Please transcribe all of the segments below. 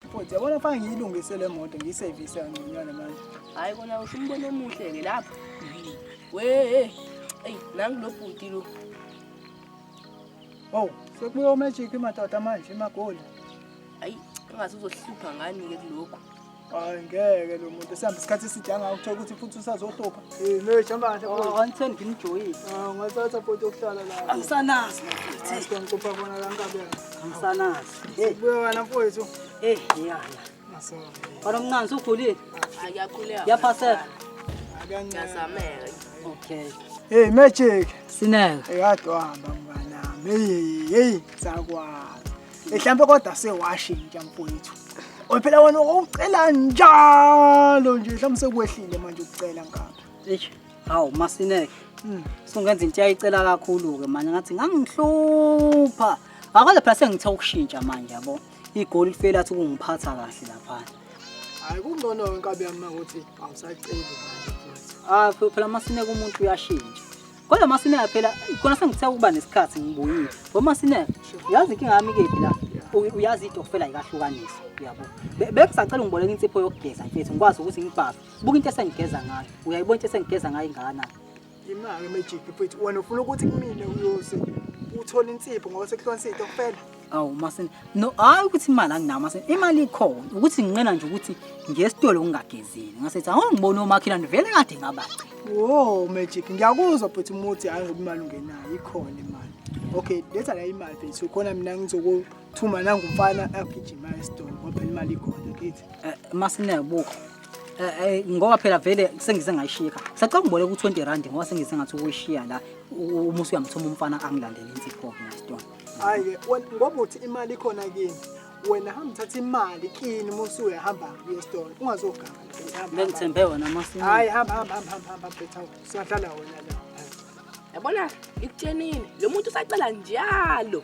Futhi yabona fana ngiyilungise le moto ngiyisevise kanconywana manje. Hayi kona usho umbono omuhle ke lapho. Wee. Ey, nangu lo bhuti lo. Wow, sekubuya umagic madoda manje imagoli. Hayi, engathi uzohlupha ngani ke kuloko. Hayi ngeke lo muntu sihamba isikhathi eside angawu uthola ukuthi futhi usazohlupha. Eh, no jamba kahle Oh, futhi. angitheni ngimjoyise. Ah, ngathatha futhi ukuhlala la. Angisanazi mfethu, Sicela ngicupha bona la nkabi yakhe. angisanazi. Hey, buya wena mfowethu. Hey, ngiyala. Maso. Bana mncane usukhulile? Ayakhuleka. Yaphaseka. Akancazamela. Okay. Hey, magic. Sineka. Eyadwamba mnganami. Hey, hey, sakwazi. Mhlawumbe kodwa sewashintsha mfowethu. Ophela wena ucela njalo nje mhlawumbe sekwehlile manje ukucela ngapha. Eish. Hawu masineke. Mm. Sungenza into yayicela kakhulu ke manje ngathi ngangihlupha. Akaze phela sengithe ukushintsha manje yabo. Igoli lifela athi kungiphatha kahle lapha. Hayi kungcono wenkabi yami ukuthi awusaceli manje futhi. Ah phela masineke umuntu uyashintsha. Kodwa masineke phela khona sengithe ukuba nesikhathi ngibuyile. Bo masineke yazi inkinga yami kephi la? uyazi idokufela yikahlukanisa uyabo bekusacela ungiboleka insipho yokugeza mfethu ngikwazi ukuthi ngibhafe Buka into esengigeza ngayo. Uyayibona into esengigeza ngayo ingana. Imali magic futhi wena ufuna ukuthi kumina uyose uthole insipho ngoba sekuhlwa insipho kuphela. Awu masini. No hayi ukuthi imali anginayo masini. Imali ikhona. Ukuthi nginqena nje ukuthi ngiyesitolo ngingagezile. Ngasethi awu ngibona omakhelwane vele kade ngabaci. Wo magic ngiyakuzwa futhi umuthi hayi ngoba imali ungenayo ikhona imali. Okay, letha la imali futhi ukhona mina ngizoku Thuma nangu mfana agijima esitolo ngoba phela imali ikhona kithi. Eh, Masineke buka. Eh, eh, ngoba phela vele sengize ngayishiya ekhaya. Sacela ungiboleka u-20 rand ngoba sengize ngathi ukuyishiya la u- uma usuyamthuma umfana angilandele insipho-ke ngesitolo. Hayi ke wena ngoba uthi imali ikhona kini. Wena hamba uthatha imali kini uma usuya hamba uye esitolo. Ungazoganga. Hamba, hamba. Bengithembe wena Masineke. Hayi hamba hamba hamba hamba hamba betha. Siyahlala wena la. Yabona ngikutshenile lo muntu usacela njalo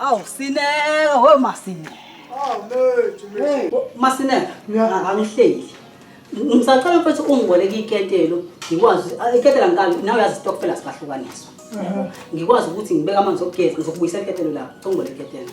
Awu sineka we masineka. Masineka angihleli. Ngisacela mfethu ungiboleke iketelo ngikwazi iketela ngikali nawe uyazi stokfela sibahlukaniswa. Ngikwazi ukuthi ngibeke amanzi okugeza ngizokubuyisa iketelo lapho. Ngicela iketelo.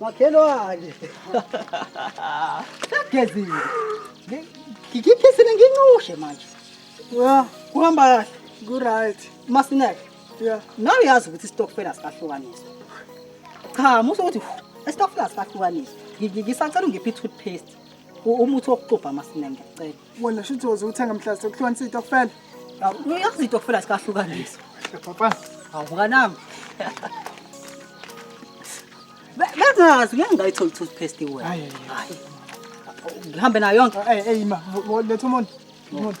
Makhelwane. Sagezile. Ngikhisile nginqushe manje. Yeah, kuhamba kahle. Ku right. Masinek. Yeah. Nawe yazi ukuthi istokfela sikahlukaniswa. Cha, muso ukuthi istokfela sikahlukaniswa. Ngisacela ungiphe toothpaste. Umuthi wokuxubha masinek ngiyacela. wena shuthi woze uthenga mhla sekuthiwa nisitokfela uyazi itokfela sikahlukanisa papa awukanami bengazi ngeke ngayitholi toothpaste wena hayi ngihambe nayo yonke eyi ma letha umuntu umuntu